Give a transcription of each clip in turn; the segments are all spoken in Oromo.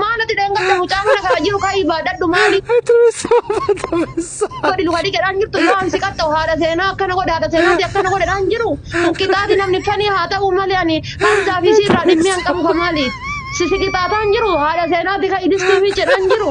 Maal ati dheengadda mucaa mana kana jiru ka'ii baadhadhu maali Atubessa atubessa. godhi luka dhiqedhaan jirtu yoo an si qaxxa'u haadha seenaa akkana godhe haadha seenaati akkana godhedhaan jiru kun qixaaxi namni fanii haa ta'uu malee ani Hamzaa fi isii irraa dhimmii an qabu ka maali si si qixaaxaan jiru haadha seenaati ka'i distii miiccidhaan jiru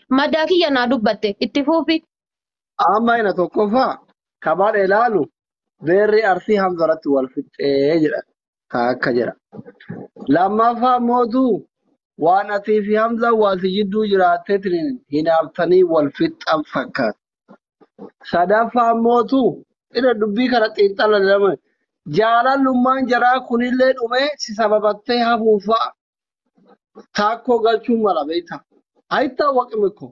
Maddaa kiyya naa dubbatte. Itti fuufi. Amma ina tokkoffaa kamaan ilaalu beerri arsii hamza irratti wal fixxee jedha taakka jedha. Lammaffaa mootu waan atii fi hamzaan waan si jidduu jiraatteetiin hinaaftanii wal fixxan fakkaata. Sadaffaa mootu irra dubbii kana xiinxala lama jaalallummaan jaraa kunillee dhumee si sababattee hafuun fa'a taakkoo galchuu mala beektaa. Hayittaa waqime koo.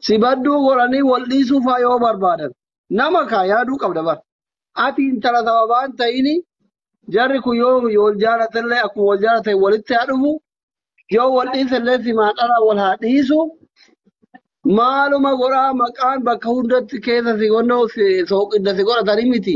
Si badduu godhanii wal dhiisuu faa yoo barbaadan nama kaa yaaduu qabda bar. Ati intala sababaa hin ta'ini jarri kun yoo wal jaalatallee akkuma wal jaalatan walitti haa dhufu yoo wal dhiisallee simaan dhalaa wal haa dhiisu. Maaluma godhaa maqaan bakka hundatti keessa si godhoo si sooqidda si godhatanii miti.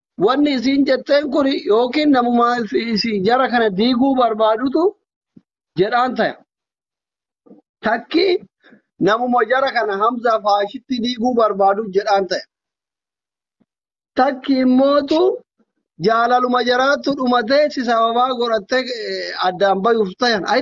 wanni isiin jetteen kun yookiin namuma isi- isi jara kana diiguu barbaadutu jedhaan taya. Takki namuma jara kana Hamzaa faashitti diiguu barbaadu jedhaan taya. Takki immootu jaalaluma jaraattu dhumatee si sababaa godhattee eh, addaan bayuuf tayan. Ay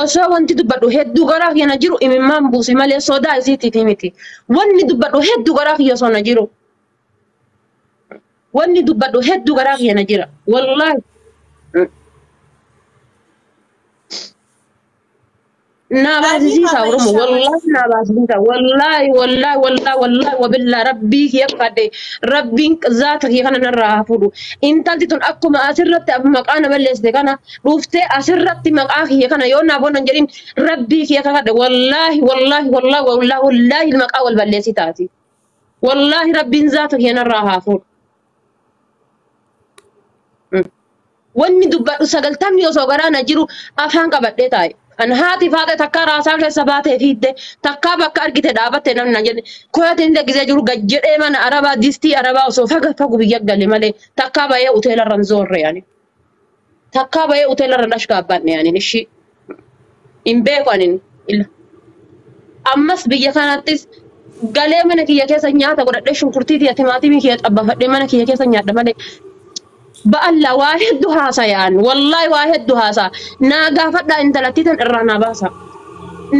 Osoo wanti dubbadhu hedduu garaa kiyya na jiru imimmaan buuse malee sodaa isiitiif miti. Wanni dubbadhu hedduu garaa kiyya osoo na jiru. Wanni dubbadhu hedduu garaa kiyya na jira. Wallaahi. Naa baasisiisa Oromo. Wallaahi naa baasisiisa. Wallaahi wallaahi wallaahi wallaahi wabillaa rabbii kiyya kadhe rabbiin zaata kiyya kana narraa haa fuudhu. Intalti tun akkuma asirratti maqaa na balleessite kana dhuftee asirratti maqaa kiyya kana yoo naaf oolan jedhin rabbii kiyya kakadhe wallaahi wallaahi wallaahi wallaahi wallaahi maqaa wal balleessi taati. Wallaahi rabbiin zaata kiyya narraa haa fuudhu. Mm. Wanni dubbadhu sagaltamni osoo garaa na jiru afaan qabadhee taa'e. Kan haati faata takkaa raasaa keessa baatee fiidde takkaa bakka argite dhaabatte namni na jedhe koyatiin degisee jiru gad jedhee mana arabaa distii arabaa osoo faga fagu biyya gale malee takkaa ba'ee hoteela irra hin zoorre ani. Takkaa bahee hoteela irra dhashkaa abbaan dhiyaanin ishii hin beeku anin ila. Ammas biyya kanattis galee mana kiyya keessa nyaata godhadhee shunkurtii tiya timaatimii kiyya xabbafadhee mana kiyya keessa nyaadha malee ba'alla waa heddu haasayaan wallaahi waa heddu haasaa naa gaafadhaa intalattii tan irraa naa baasaa.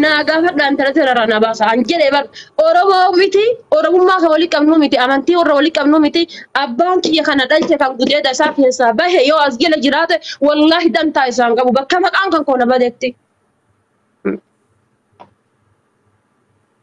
naa gaafadhaa intala tana irraa na baasa an jedhe bar oromoo miti oromummaa kan walitti qabnuu miti amantii warra walitti qabnuu miti abbaan kiyya kana dhalche kan gudeeda isaa keessaa bahe yoo as jala jiraate wallaahi dantaa isaan qabu bakka maqaan kan koona badetti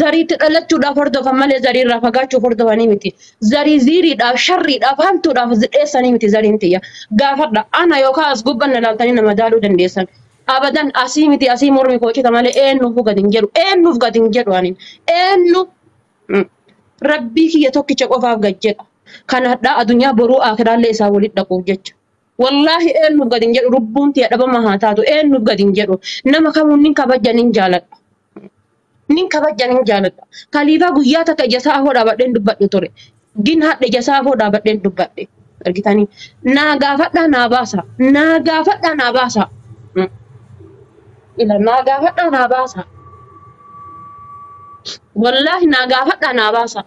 Zariitti dhalachuudhaaf hordofan malee zariirraa fagaachuuf hordofanii miti. Zarii ziiriidhaaf, sharriidhaaf, hamtuudhaaf dheessanii miti zariin tiyya. Gaafadha. Ana yookaan as gubban na laaltanii na madaaluu dandeessan. Abadan asii miti asii mormi koo cita malee eennuufuu gad hin jedhu. Eennuuf gad hin jedhu anin. Eennu mm, rabbii kiyya tokkicha qofaaf gad jedha. Kan hadhaa adunyaa boruu akiraallee isaa walitti dhaquuf jecha. Wallaahi eennuuf gad hin jedhu lubbuun tiyya dhabama haa taatu eennuuf gad hin jedhu. Nama kamuun nin kabajja nin jaaladha. Nin kabajja nin jaaladha. Kaliifaa guyyaa takka ija isaa afoo dhaabadheen dubbadhu ture. Gin hadha ija isaa afoo dhaabadheen dubbadhe. Argitanii? Naa gaafadhaa naa baasa. Naa gaafadhaa naa baasa. Mm. Ila naa gaafadhaa naa baasa. Wallaahi naa gaafadhaa naa baasa.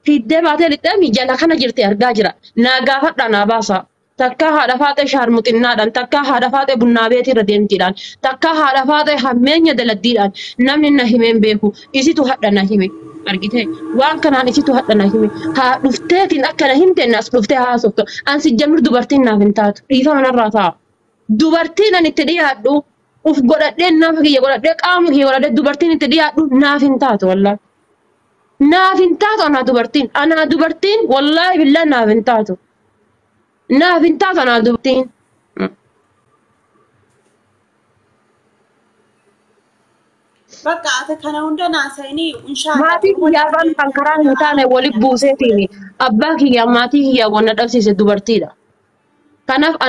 Fiddee baatee lixxeemi jala kana jirti argaa jira. Naa gaafadhaa naa baasa. Takkaa haadha faaxee shaarmuxinnaadhaan, takkaa haadha faaxee bunnaa beetii irra deemtiidhaan, takkaa haadha faaxee hammeenya daladdiidhaan namni na himee hin beeku. Isitu hadha na hime. Argitee? Waan kanaan isitu hadha na hime. Haa dhufteetiin akka na himteen as dhuftee haasoftu. An sijjamir dubartiin naaf hin taatu. Dhiifama narraa ta'a. Dubartiin an itti dhiyaadhu uf godhadhee nafa kiyya godhadhee qaama kiyya godhadhee dubartiin itti dhiyaadhu naaf hin taatu wallaahi. Naaf hin taatu anaa dubartiin. Anaa dubartiin wallaahi billaa naaf hin taatu. Naaf hin taatu anaa dubtiin. Bakka ati kana hunda naasa'inii inshaalla. Maatii kiyyaa afaan kan karaa hin taane wali buuseetiin abbaa kiyyaa maatii kiyyaa wanna dhabsiise dubartiidha. Kanaaf ana